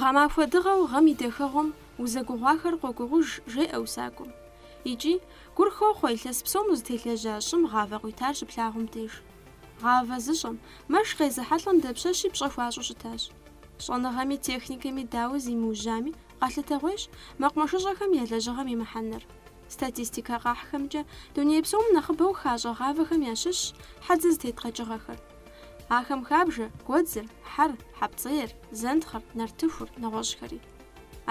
Гъэмахуэ дыгъэу гъэм и дахэгъуэм узэгугъуахэр къогугъуж, жеӏэ усакӏуэм. Икӏи, гур хохъуэ илъэс псом узытелэжьа щӏым гъавэ къуитар щыплъагъум деж. Гъавэ зыщӏэм, мэш къезыхьэлӏэм дапщэщи пщӏэ хуащӏу щытащ. Щӏэныгъэми техникэми дауэ зимыужьами, къэлъытэгъуейщ мэкъумэшыщӏэхэм я лэжьыгъэм и мыхьэнэр. Статистикэ къахьхэмкӏэ, дуней псом нэхъыбэу хащӏэ гъавэхэм ящыщщ хьэдзэ зытет къэкӏыгъэхэр. Ахэм хабжэ, гуэдзыр, хьэр, хьэпцӏейр, зэнтхъэр, нартыхур, нэгъуэщӏхэри.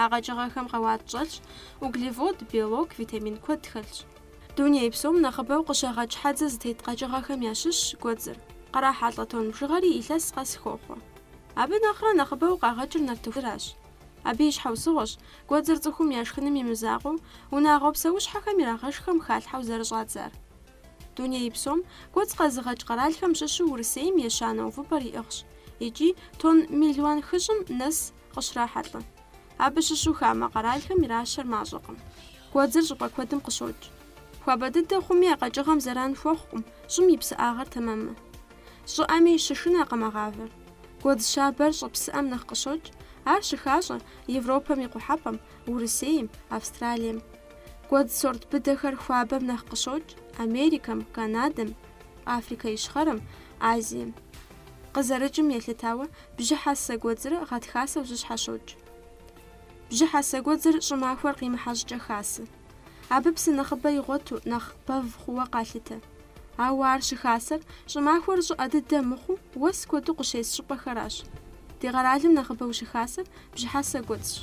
А къэкӏыгъэхэм къэуат щӏэлъщ, углевод, белок, витамин куэд хэлъщ. Дуней псом нэхъыбэу къыщагъэкӏ хьэдзэ зытет къэкӏыгъэхэм ящыщщ гуэдзыр. Кърахьэлӏэ тонн бжыгъэри илъэс къэс хохъуэ. Абы нэхърэ нэхъыбэу къагъэкӏыр нартыхуращ. Абы и щхьэусыгъуэщ, гуэдзыр цӏыхум яшхыным и мызакъуэу, унагъуэ псэущхьэхэм ирагъэшхэм халъхьэу зэрыщӏадзар. Дуней псом гуэдз къэзыгъэкӏ къэралхэм щыщу Урысейм ещанэ увыпӏэр иӏыгъщ икӏи тонн мелуан хыщӏым нэс къыщрахьэлӏэ. Абы щыщу хамэ къэралхэм иращэр мащӏэкъым. Гуэдзыр щӏыпӏэ куэдым къыщокӏ. Хуабэ дыдэ хъуми а къэкӏыгъэм зэран хуэхъукъым, щӏым и псыӏагъэр тэмэммэ. Щӏыӏэми щышынэкъым а гъавэр. Гуэдз щабэр щӏы псыӏэм нэхъ къыщокӏ, ар щыхащӏэ Европэм и къухьэпӏэм, Урысейм, Австралием. Гуэдз сорт быдэхэр хуабэм нэхъ къыщокӏ Америкэм, Канадэм, Африкэ Ищхъэрэм, Азием. Къызэрыкӏым елъытауэ, бжьыхьэсэ гуэдзрэ гъэтхасэу зэщхьэщокӏ. Бжьыхьэсэ гуэдзыр щӏымахуэр къимыхьэ щӏыкӏэ хасэ. Абы псы нэхъыбэ игъуэту, нэхъ бэв хъууэ къалъытэ. Ауэ ар щыхасэр, щӏымахуэр щӏыӏэ дыдэ мыхъуу, уэс куэду къыщес щӏыпӏэхэращ. Ди къэралым нэхъыбэу щыхасэр бжьыхьэсэ гуэдзщ.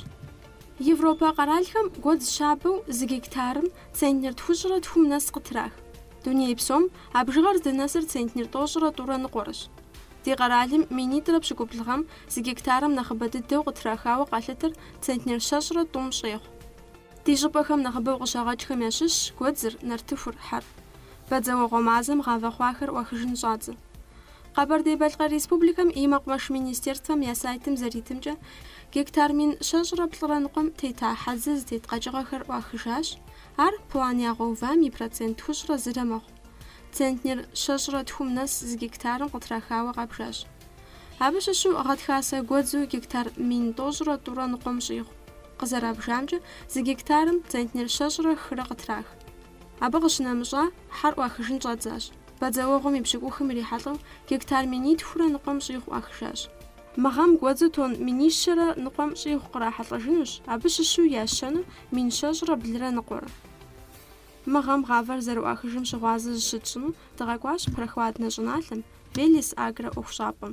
Европэ къэралхэм гуэдз щабэу зы гектарым центнер тхущӏрэ тхум нэс къытрах. Дуней псом а бжыгъэр здынэсыр центнер тӏощӏрэ тӏурэ ныкъуэрыщ. Ди къэралым минитӏрэ пщыкӏубл гъэм зы гектарым нэхъыбэ дыдэу къытрахауэ къалъытэр центнер щэщӏрэ тӏум щӏегъу. Ди щӏыпӏэхэм нэхъыбэу къыщагъэкӏхэм ящыщщ гуэдзыр, нартыхур, хьэр. Бадзэуэгъуэ мазэм гъавэ хъуахэр ӏуахыжын щӏадзэ. Къэбэрдей-Балъкъэр Республикэм и Мэкъумэш министерствэм я сайтым зэритымкӏэ, гектар мин щэщӏрэ плӏырэ ныкъуэм тета хьэдзэ зытет къэкӏыгъэхэр ӏуахыжащ, ар план ягъэувам и процент тхущӏрэ зырэ мэхъу. Центнер щэщӏрэ тхум нэс зы гектарым къытрахауэ къабжащ. Абы щыщу гъэтхасэ гуэдзу гектар мин тӏощӏрэ тӏурэ ныкъуэм щӏигъу. Къызэрабжамкӏэ, зы гектарым центнер щэщӏрэ хырэ къытрах. Абы къыщынэмыщӏа, хьэр ӏуахыжын щӏадзащ. Бадзэуэгъуэм и пщыкӏухым ирихьэлӏэу гектар минитхурэ ныкъуэм щӏигъу ӏуахыжащ. Мы гъэм гуэдзу тонн минищэрэ ныкъуэм щӏигъу кърахьэлӏэжынущ, абы щыщу ящэну мин щэщӏрэ блырэ ныкъуэрэ. Мы гъэм гъавэр зэрыӏуахыжым щыгъуазэ зыщытщӏыну дыкъэкӏуащ Прохладнэ щӏыналъэм, Велес Агро ӏуэхущӏапӏэм.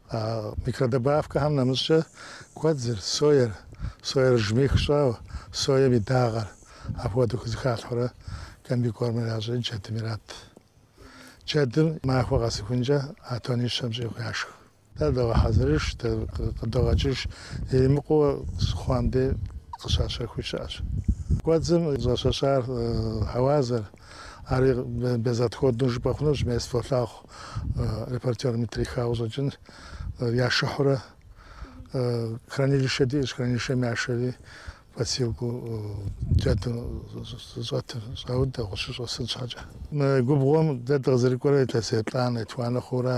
А микродобавкэхэм нэмыщӏкӏэ гуэдзыр, соер, соер жмых щӏауэ, соем и дагъэр, апхуэдэу хызыхалъхьурэ комбикормыр ящӏын джэдым ират. Джэдым махуэ къэсыхункӏэ а тонищэм щӏигъу яшх. Дэ догъэхьэзырыж, дэ къыдогъэкӏыж, иримыкъуу хъуам дей къыщащэхуи щыӏэщ. Гуэдзым щӏэщэщар хьэуазэр, Ари безотходнэу жыпӏэ хъунущ, мес фолъагъу репортерыми трихауэ щӏэкӏын. Яшыхьурэ хранилищэ диӏэщ, хранилищэм яшэри подстилкэу джэдыр зыщӏэтым щӏаудэ, гъущэу щӏэсын щхьэкӏэ. Мы губгъуэм дэ дыкъызэрыкӏуэрэ илъэс еплӏанэ, етхуанэ хъуура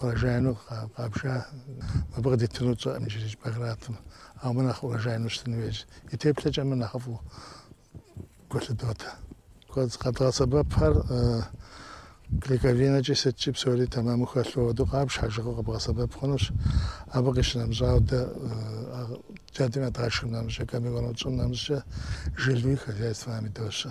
урожайну къабжа, мыбы къыдитыну тщӏэркъым иджырей Багратым, ауэ мыр нэхъ урожайну щытын хуейщ. И теплъэкӏэ мыр нэхъыфӏу гулъыдотэ. Къэдгъэсэбэпхэр клейковинэкӏи сыткӏи псори тэмэму хэлъу абы къабж, хьэжыгъэу къэбгъэсэбэп хъунущ. Абы къищынэмыщӏауэ дэ джэдым ядгъэшхым нэмыщӏкӏэ, комбикорму тщӏым нэмыщӏкӏэ жылэуи хозяйствэхэм идощэ.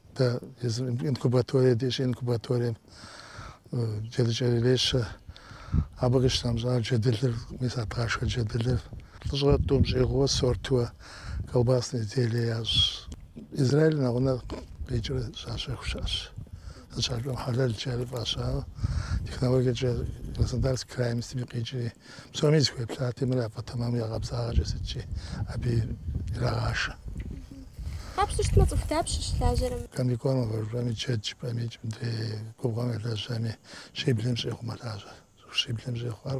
Дэ езым инкубаторие диӏэщи, инкубаторием джэдыкӏэр ирещэ. Абы къищынэмыщӏауэ джэдылыр, мис а дгъашхэ джэдылыр. Плӏыщӏрэ тӏум щӏигъууэ сортуэ колбасные изделие ящӏ. Израиль нэгъунэ къикӏрэ щащэху щыӏэщ. Сыт щхьэкӏэ хьэлэлкӏэ фӏащауэ технологиекӏэ Краснодарскэ крайм сытми къикӏри. Псоми зыхуеплъати, мыр япэ тэмэму я къабзагъэкӏэ сыткӏи, абы ирагъашэ. Къапщтэу щытмэ, цӏыху дапщэ щылажьэрэм? Комбикорм жыпӏэми, джэд жыпӏэмикӏ мыдрей губгъуэм елэжьэми, щиблым щӏигъу мэлажьэр. Щиблым щӏигъуар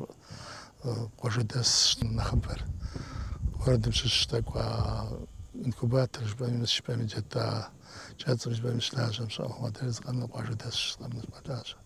къуажэдэсщ нэхъыбэр. Городым щыщ тӏэкӏу а инкубатор жыпӏэми, офис жыпӏэми джэдыкӏэ цехым жыпӏэми щылажьэм щыӏэу. Адрейр зыкъомыр къуажэдэсщ, зыкъомыр мэлажьэ.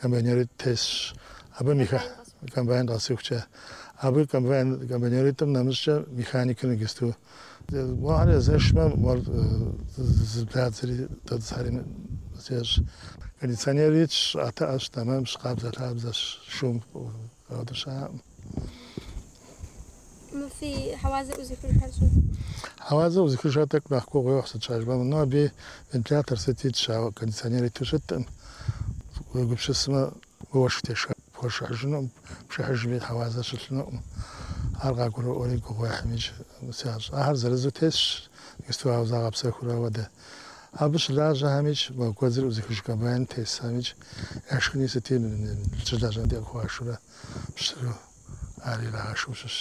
Комбайнеритӏ тесщ. Абы механикыр. Комбайн къэсыхукӏэ. Абы комбайн, комбайнеритӏым нэмыщӏкӏэ механикыр нэгысту. Гугъу ехьрэ езэшмэ, мор зыбдадзэри дэтӏысари зещӏ. Кондиционер итщ, щӏыӏэтыӏэщ, тэмэмщ, къабзэ-лъабзэщ, шум. Къэгъэтӏыщакъым. Мы фи хьэуазэ ӏузыхыжхэр щӏы. Хьэуазэ ӏузыхыжхэр тӏэкӏу нэхъ гугъу ехь, сыт щхьэкӏэ жыпӏэмэ, мынэу абы вентилятор сыт итщ, ауэ кондиционер иту щыткъым. Уегупсысмэ, уэшх тешхэ пхуэшыхьыжынукъым, пшыхьыжми хьэуазэ щылъынукъым. Ар къагурыӏуэри гугъу ехьхэмикӏ ящӏ. Ахэр зырызу тесщ, мисту ауэ загъэпсэхурэ ауэдэ. Абы щылажьэхэмикӏ, мо гуэдзыр ӏузыхыж комбайным тесхэмикӏ, Яшхыни сыти щылажьэм дей къыхуашурэ пщтыру ар ирагъэшхыу щытщ.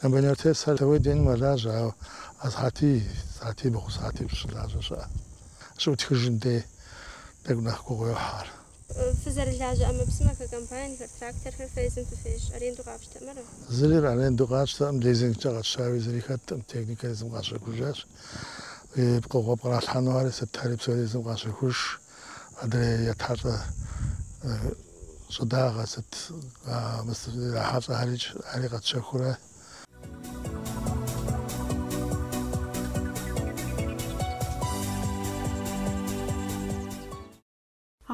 Комбайн артес ар тауей дену мэлажьэ, ауэ сыхьэтий, сыхьэтибгъу, сыхьэтипщӏ щылажьэ щыӏэщ. Щыӏутхыжым дей тӏэкӏу нэхъ гугъу йохь ар. Фызэрылажьэ ӏэмэпсымэхэр, комбайнхэр, тракторхэр фэ езым фыфещ, аренду къапщтэмэрэ? Зыри аренду къатщтэкъым, лизингкӏэ къэтщтауи зыри хэткъым, техникэр езым къащэхужащ. И пкъыгъуэ пкъралъхьэнухэри сытхэри псори езым къащэхуж. Адрей етхьэлӏэ щӏыдагъэ сыт ирахьэлӏэхэри щӏыӏэри къэтщэхурэ.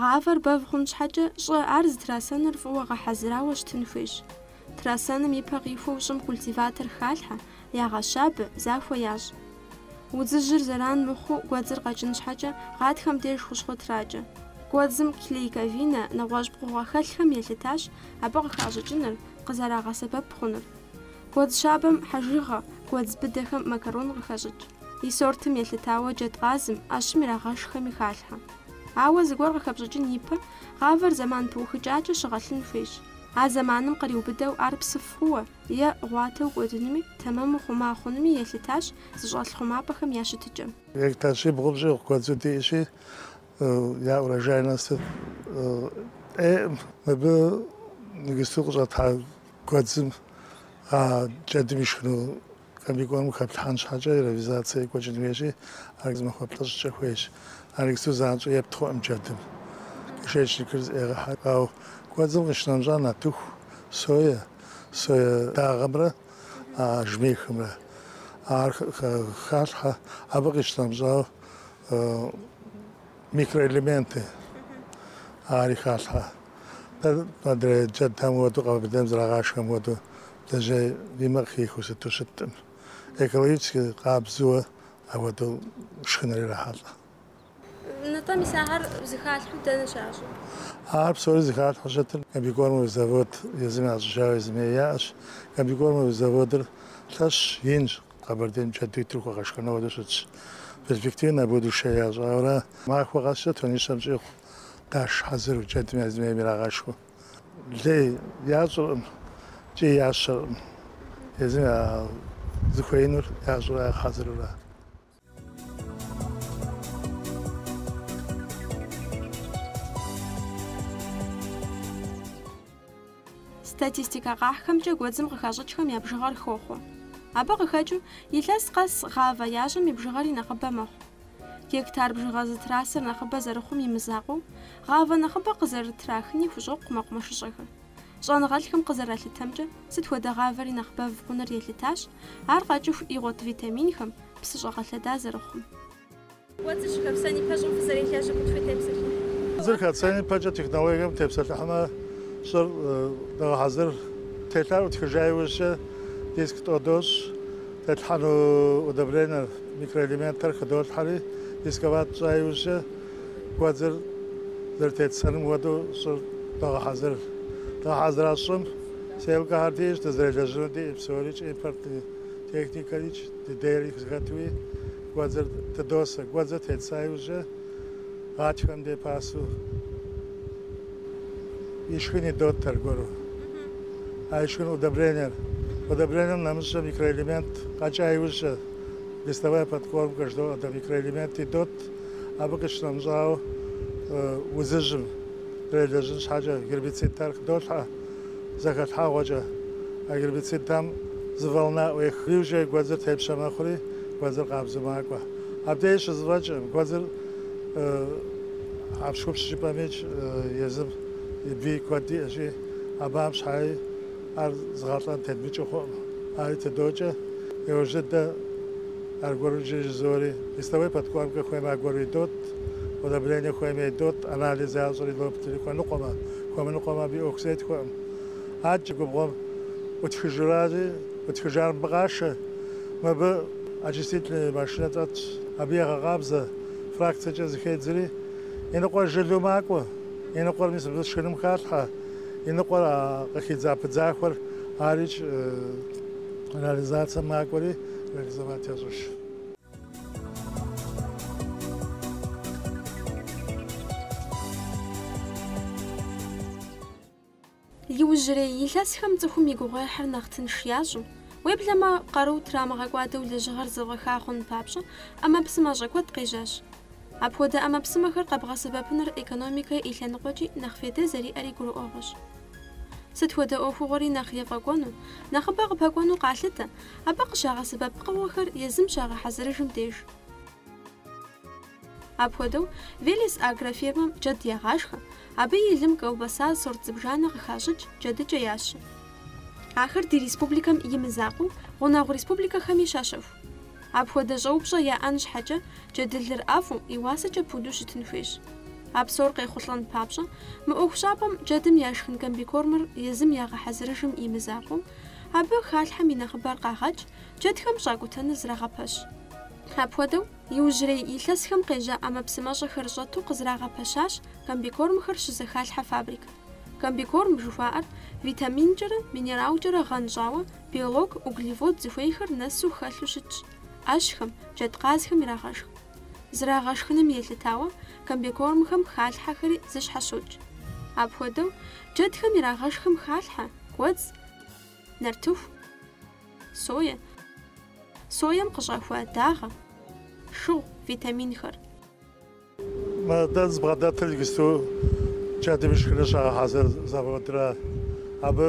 Гъавэр бэв хъун щхьэкӏэ, щӏы ар зытрасэныр фӏыуэ гъэхьэзырауэ щытын хуейщ. Трасэным и пэ къихуэу щӏым культиватор халъхьэ, ягъэщабэ, захуэ ящӏ. Удзыжьыр зэран мыхъуу гуэдзыр къэкӏын щхьэкӏэ, гъатхэм деж хущхъуэ тракӏэ. Гуэдзым клейковина нэгъуэщӏ пкъыгъуэ хэлъхэм елъытащ абы къыхащӏыкӏыныр, къызэрагъэсэбэп хъунур. Гуэдз щабэм хьэжыгъэ, гуэдз быдэхэм макарон къыхащӏыкӏ. И сортым елъытауэ джэдкъазым, ӏэщым ирагъэшхэми халъхьэ. Ауэ зыгуэр къыхэпщӏыкӏын ипэ, гъавэр зэман пыухыкӏакӏэ щыгъэлъын хуейщ. А зэманым къриубыдэу ар псыф хъууэ е гъуатэу кӏуэдынуми, тэмэму хъума хъунуми елъытащ зыщӏэлъ хъумапӏэхэм я щытыкӏэм. Гектар щибгъум щӏигъу гуэдзу диӏэщи, я урожайность ӏейкъым. Мыбы иджысту къыщӏэтхьа гуэдзым а джэдым ишхыну комбикормым хэплъхьэн щхьэкӏэ яровизацэ екӏуэкӏын хуейщи, ар зы махуэ плӏыщӏкӏэ хуейщ. Ар иджысту занщӏэу епт хъукъым джэдым. Кишечникыр зэӏегъэхьэ. Ауэ гуэдзым къищынэмыщӏа нартыху, соя, соя дагъэмрэ а жмыхымрэ. Ар халъхьэ абы къищынэмыщӏауэ. Микроэлементы ахэри халъхьэ. Дэ адрей джэдхэм хуэдэу, Къэбэрдейм зэрагъашхэм хуэдэу бдзэжьей и мэ къыхихыу сыту щыткъым. Экологически къабзэуэ апхуэдэу шхыныр ирахьэлӏэ. Нтӏэ, мис ахэр зыхалъхьэу дэнэ щащӏыр? Ахэр псори зыхалъхьэу щытыр комбикормовый завод езым ящӏыжауэ езыми яӏэщ. Комбикормовый заводыр лъэщщ, инщ. Къэбэрдейм джэду итыр хуэгъэшхэну хуэдэу щытщ. Перспектива на будущее ящӏаурэ махуэ къэскӏэ тоннищэм щӏигъу къаш хьэзыру, джэдым езым ейм ирагъэшхыу. Лей ящӏыркъым икӏи ящэркъым, езым зыхуеинур ящӏурэ хьэзырурэ. Статистикэ къахьхэмкӏэ гуэдзым къыхащӏыкӏхэм я бжыгъэр хохъуэ. Абы къыхэкӏыу, илъэс къэс гъавэ ящӏэм и бжыгъэри нэхъыбэ мэхъу. Гектар бжыгъэ зытрасэр нэхъыбэ зэрыхъум и мызакъуэу, гъавэ нэхъыбэ къызэрытрахыни хущӏокъу мэкъумэшыщӏэхэр. Щӏэныгъэлӏхэм къызэралъытэмкӏэ, сыт хуэдэ гъавэри нэхъ бэв хъуныр елъытащ, ар къэкӏыху игъуэт витаминхэм, псы щӏэгъэлъэда зэрыхъум. Гуэдзыр хэпсэн ипэ щӏым фызэрелэжьыр куэд фытепсэлъыхь? Гуэдзыр хэтсэн ипэкӏэ технологием тепсэлъыхьмэ, щӏыр догъэхьэзыр. Телъар ӏутхыжа иужькӏэ диск тӏэу дощӏ, тетлъхьэну удобренэр, микроэлементхэр хыдолъхьэри, дисковать тщӏа иужькӏэ гуэдзыр зэрытетсэным хуэдэу щӏыр догъэхьэзыр. Дгъэхьэзыра щӏым сеялкэхэр диӏэщ, дызэрелэжьыну диӏэ псорикӏ, импортнэ техникэрикӏ, дыдейри зэхэтуи. гуэдзыр тыдосэ. Гуэдзыр тетса иужькӏэ гъатхэм дей пасэу и шхын идот аргуэру. А и шхын удобрениер. Удобрением нэмыщӏкӏэ микроэлемент къэкӏа иужькӏэ листовая подкормка жыдоӏэ дэ микроэлемент идот. Абы къищынэмыщӏауэ удзыжьым делэжьын щхьэкӏэ гербицидхэр хыдолъхьэ. зэхэлъхьэгъуэкӏэ. А гербицидхэм зы волна ӏуехри иужькӏэ гуэдзыр тепщэ мэхъури, гуэдзыр къабзэу макӏуэ. Абдеж щызэфӏэкӏкъым, гуэдзыр хьэпщхупщ жыпӏэмикӏ езым и бий куэд иӏэщи, абыхэм щхьэи ар зыгъэлӏэн тедмыкӏыу хъуӏым. Ари тыдокӏэ, иужь дыдэ аргуэру иджыри жызоӏэри листовой подкормкэ хуеймэ аргуэру идот, удобрение хуеймэ идот, анализ ящӏри йоплъри хуэныкъуэмэ. Хуэмыныкъуэм абы и ӏуэху зетхуэкъым. Адэкӏэ губгъуэм ӏутхыжыращи, ӏутхыжар мыбы къашэ. Мыбы очистительнэ машинэ дэтщ. Абы егъэкъабзэ фракцэкӏэ зыхедзри, иныкъуэр жылэу макӏуэ. Иныкъуэр мис мыбы шхыным халъхьэ. Иныкъуэр а къыхидза пыдзахуэр арикӏ реализацэм макӏуэри, реализовать ящӏыж. Иужьрей илъэсхэм цӏыхум и гугъуехьыр нэхъ тынш ящӏу, уеблэмэ къару трамыгъэкӏуадэу лэжьыгъэр зэфӏэха хъун папщӏэ ӏэмэпсымэщӏэ куэд къежьащ. Апхуэдэ ӏэмэпсымэхэр къэбгъэсэбэпыныр экономикэ и лъэныкъуэкӏи нэхъ фейдэ зэриӏэри гурыӏуэгъуэщ. Сыт хуэдэ ӏуэхугъуэри нэхъ ефӏэкӏуэну, нэхъыбэ къыпэкӏуэну къалъытэ, Абы къыщагъэсэбэп пкъыгъуэхэр езым щагъэхьэзырыжым деж. Апхуэдэу, Велес агрофирмэм джэд ягъашхэ, абы и лым колбаса сорт зыбжанэ къыхащӏыкӏ джэдыкӏэ ящэ. Ахэр ди республикэм и мызакъуэу, гъунэгъу республикэхэми щащэху. Апхуэдэ щӏэупщӏэ яӏэн щхьэкӏэ, джэдылыр ӏэфӏу, и уасэкӏэ пуду щытын хуейщ. А псор къехъулӏэн папщӏэ, мы ӏуэхущӏапӏэм джэдым яшхын комбикормыр езым ягъэхьэзырыжым и мызакъуэу, Абы халъхьэм и нэхъыбэр къагъэкӏ, джэдхэм щӏакӏутэныр зрагъэпэщ. Апхуэдэу, иужьрей илъэсхэм къежьа ӏэмэпсымэщӏэхэр щӏэту къызрагъэпэщащ комбикормхэр щызэхалъхьэ фабрик. Комбикорм жыхуаӏэр витаминкӏэрэ минералкӏэрэ гъэнщӏауэ, белок, углевод зыхуейхэр нэсу хэлъу щытщ. ӏэщхэм, джэдкъазхэм ирагъэшх. Зрагъэшхыным елъытауэ комбикормхэм халъхьэхэри зыщхьэщокӏ. Апхуэдэу, джэдхэм ирагъэшхым халъхьэ гуэдз, нартыху, сое, соем къыщӏэхуа дагъэ, шыгъу, витаминхэр. Мы дэ дызбгъэдэтыр иджысту джэдым ишхыныр щагъэхьэзыр заводращ, абы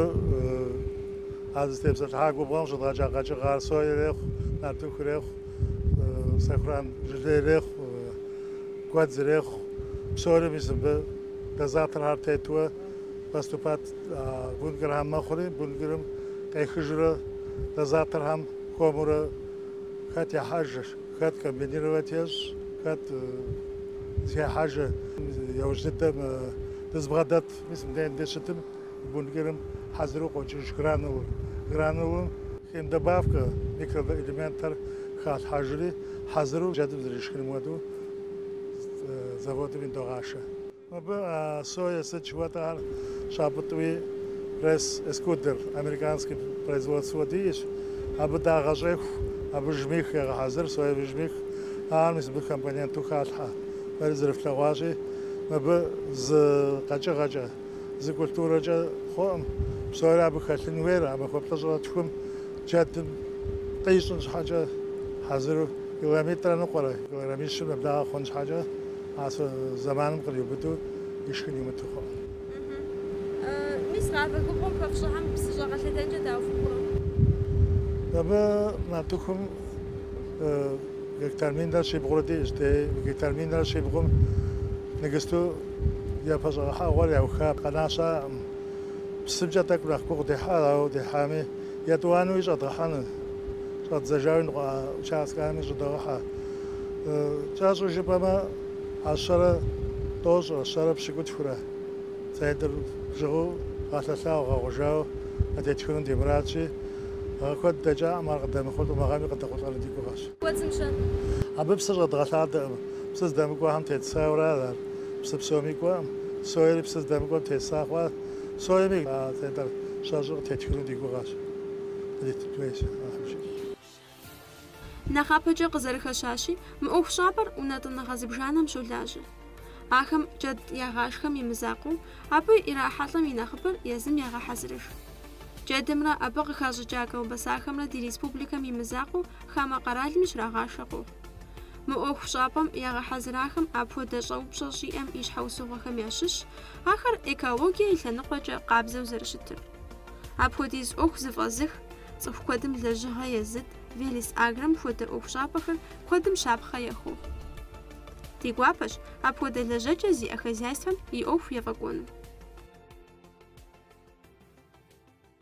а сызытепсэлъыхьа губгъуэм щыдгъэкӏа къэкӏыгъэхэр сое ирехъу, нартыху ирехъу. Сэхуран жылэ ирехъу, гуэдз ирехъу, псори мис мыбы дозаторхэр тету поступать бункерхэм мэхъури, бункерым къехыжурэ дозаторхэм хуэмурэ хэт ехьэжыр, хэт комбинировать ещӏ, хэт зыхехьэжыр. Яужь дыдэм дызбгъэдэт мис мыбдеж дыщытым. бункерым хьэзыру къокӏыж гранулэр. Гранулэм химдобавкэ, микроэлементхэр халъхьэжри, хьэзыру джэдым зэришхыным хуэдэу заводым идогъашэ. Мыбы соя сыт жыхуэтӏар щапӏытӏуи, пресс экструдер, американскэ производствэ диӏэщ, абы дагъэ щӏеху, абы жмых егъэхьэзыр, соевый жмых, ахэр мис мыбы компоненту халъхьэ. Фэри зэрыфлъэгъуащи, мыбы зы къэкӏыгъэкӏэ. зы культурэкӏэ хъуӏым, псори абы хэлъын хуейр, а махуэ плӏыщӏрэ тхум джэдым къищӏын щхьэкӏэ хьэзыру килограммитӏрэ ныкъуэрэ, килограммищым нэблагъэ хъун щхьэкӏэ асэ зэманым къриубыдэу ишхын имыту хъуӏым. Мис комбикормым хэфщӏыхьэм псыщӏэ къэлъэдэкӏэ дауэ фыхъурэ? Абы нартыхум гектар минрэ щибгъурэ диӏэщ, дей мы гектар минрэ щибгъум ныгысту Япэ щӏэгъэхьэгъуэр яуха къэна щыӏэкъым. Псымкӏэ тӏэкӏу нэхъ гугъу дехьа, ауэ дехьами, етӏуанэуи щӏэдгъэхьэну. Щӏэддзэжауэ иныкъуэ а участкэхэми щӏыдогъэхьэ. Кӏэщӏу жыпӏэмэ, а щэрэ тӏощӏрэ, щэрэ пщыкӏутхурэ центнер бжыгъэу гъэлъэлъауэ, гъэгъужауэ къытетхыну ди мурадщи, гъэ куэд дэкӏакъым, ар къыдэмыхъулӏэу, мы гъэми къыдэхъулӏэну ди гугъэщ. Абы псы щӏэдгъэлъадэкъым. псы здэмыкӏуэхэм тет сойуэрэ ара ар? Псы псоми кӏуэкъым. Сойри псы здэмыкӏуэм теса хъуа? Сойми а тетӏэр щэщӏу къытетхыну ди гугъэщ. Къыдитын хуейщ нэхъыжьым. Нэхъапэкӏэ къызэрыхэщащи, мы ӏуэхущӏапӏэр унэтӏыныгъэ зыбжанэм щолажьэ. Ахэм джэд ягъашхэм и мызакъуэу, абы ирахьэлӏэм и нэхъыбэр езым ягъэхьэзырыж. Джэдымрэ абы къыхащӏыкӏа колбасахэмрэ ди республикэм и мызакъуэу хамэ къэралми щрагъашэ къохъу. Мы ӏуэхущӏапӏэм ягъэхьэзырахэм апхуэдэ щӏэупщӏэ щӏиӏэм и щхьэусыгъуэхэм ящыщщ ахэр экологие и лъэныкъуэкӏэ къабзэу зэрыщытыр. Апхуэдиз ӏуэху зэфӏэзых, цӏыху куэдым лэжьыгъэ езыт, Велес Агром хуэдэ ӏуэхущӏапӏэхэр куэдым щапхъэ яхуохъу. Ди гуапэщ апхуэдэ лэжьэкӏэ зиӏэ хозяйствэм и ӏуэху ефӏэкӏуэну.